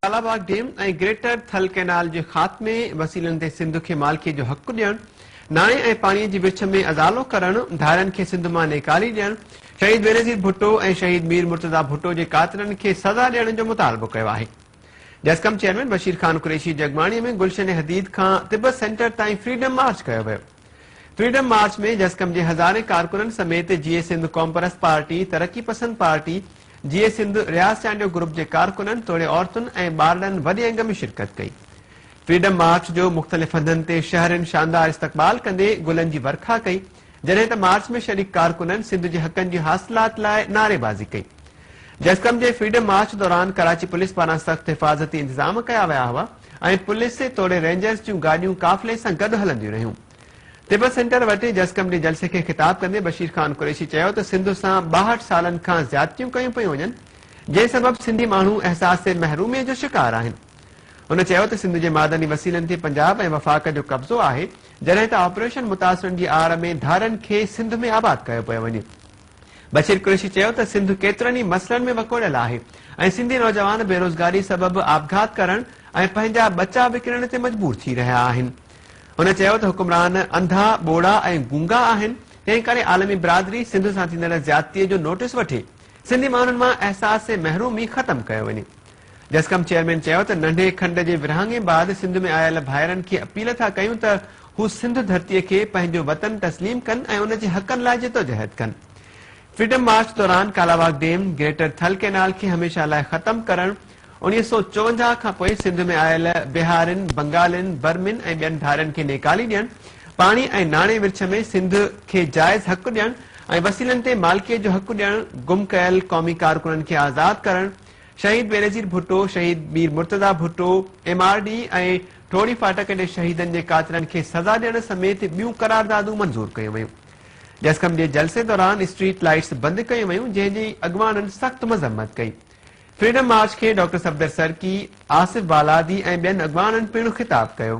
Kalabagh dam ۽ greater Thal canal جي خاتمي وسيلن تي سنڌ کي مالڪيء جو حق ڏيڻ، ناڻي ۽ پاڻيء جي ورڇ ۾ ازالو ڪرڻ، ڌارين کي سنڌ مان نيڪالي ڏيڻ، شهيد بينظير ڀٽو ۽ شهيد مير مرتضيٰ ڀٽو جي قاتلن کي سزا ڏيڻ جو مطالبو ڪيو آهي. جسقم چيئرمين بشير خان قريشي جڳماڻيء ۾ گلشن حديد کان تبت سينٽر تائين فريڊم مارچ ڪيو ويو. فريڊم مارچ ۾ جسقم جي هزارين ڪارڪنن سميت Jeay Sindh Qaumparast party, Taraqi Pasand party, Jeay Sindh Riaz Chandio group جي ڪارڪنن توڙي عورتن ۽ ٻارڙن وڏي انگ ۾ شرڪت ڪئي. فريڊم مارچ جو مختلف هنڌن تي شهرين شاندار استقبال ڪندي گلن جي ورکا ڪئي جڏهن ته مارچ ۾ شريڪ ڪارڪنن سنڌ جي حقن جي حاصلات لاء نعري بازي ڪئي. جسقم جي فريڊم مارچ دوران ڪراچي پوليس پاران سخت حفاظتي انتظام ڪيا ويا هئا ۽ پوليس توڙي رينجرز جون گاڏيون قافلي سان گڏ هلنديون رهيون. تبت سينٽر وٽ جسقم جي جلسي کي خطاب ڪندي بشير خان قريشي چيو ته سنڌ سان ٻاهٺ سالن کان زيادتيون ڪيون پيون وڃن جنهن سبب سنڌي ماڻهو احساس محرومي جو شڪار آهن هن چيو ته سنڌ جي معدني وسيلن تي پنجاب ۽ وفاق جو قبضو آهي جڏهن ته آپريشن متاثرن جي آڙ ۾ ڌارين کي سنڌ ۾ آباد ڪيو پيو وڃي بشير قريشي چيو ته سنڌ ڪيترن ئي مسئلن ۾ وڪوڙيل آهي ۽ سنڌي نوجوان بيروزگاري سبب آپگهات ڪرڻ ۽ پنهنجا ٻچا وڪڻڻ تي مجبور ٿي رهيا آهن هن چيو ته حڪمران انڌا، ٻوڙا ۽ گونگا آهن، تنهن ڪري عالمي برادري سنڌ سان ٿيندڙ زيادتي جو نوٽيس وٺي سنڌي ماڻهن مان احساس محرومي ختم ڪيو وڃي. جسقم چيئرمين چيو ته ننڍي کنڊ جي ورهاڱي بعد سنڌ ۾ آيل ڀائرن کي اپيل ٿا ڪيون ته هو سنڌ ڌرتي کي پنهنجو وطن تسليم ڪن ۽ ان جي حقن لاء جدوجهد ڪن. فريڊم مارچ دوران Kalabagh dam, greater Thal canal کي هميشه لاء ختم ڪرڻ، اڻيهه سؤ چوونجاهه کان پوء سنڌ ۾ آيل بهارين، بنگالين، برمين ۽ ٻين ڌارين کي نيڪالي ڏيڻ، پاڻي ۽ ناڻي ورڇ ۾ سنڌ کي جائز حق ڏيڻ ۽ وسيلن تي مالڪيء جو حق ڏيڻ، گم ڪيل قومي ڪارڪنن کي آزاد ڪرڻ، شهيد بينظير ڀٽو، شهيد Mir Murtaza Bhutto, M R D ۽ Thorhi Phatak جي شهيدن جي قاتلن کي سزا ڏيڻ سميت ٻيون قراردادون منظور ڪيون ويون. جسقم جي جلسي دوران اسٽريٽ لائيٽس بند ڪيون ويون جنهن جي اڳواڻن سخت مذمت ڪئي. فريڊم مارچ کي ڊاڪٽر صفدر سرڪي، آصف بالادي ۽ ٻين اڳواڻن پڻ خطاب ڪيو.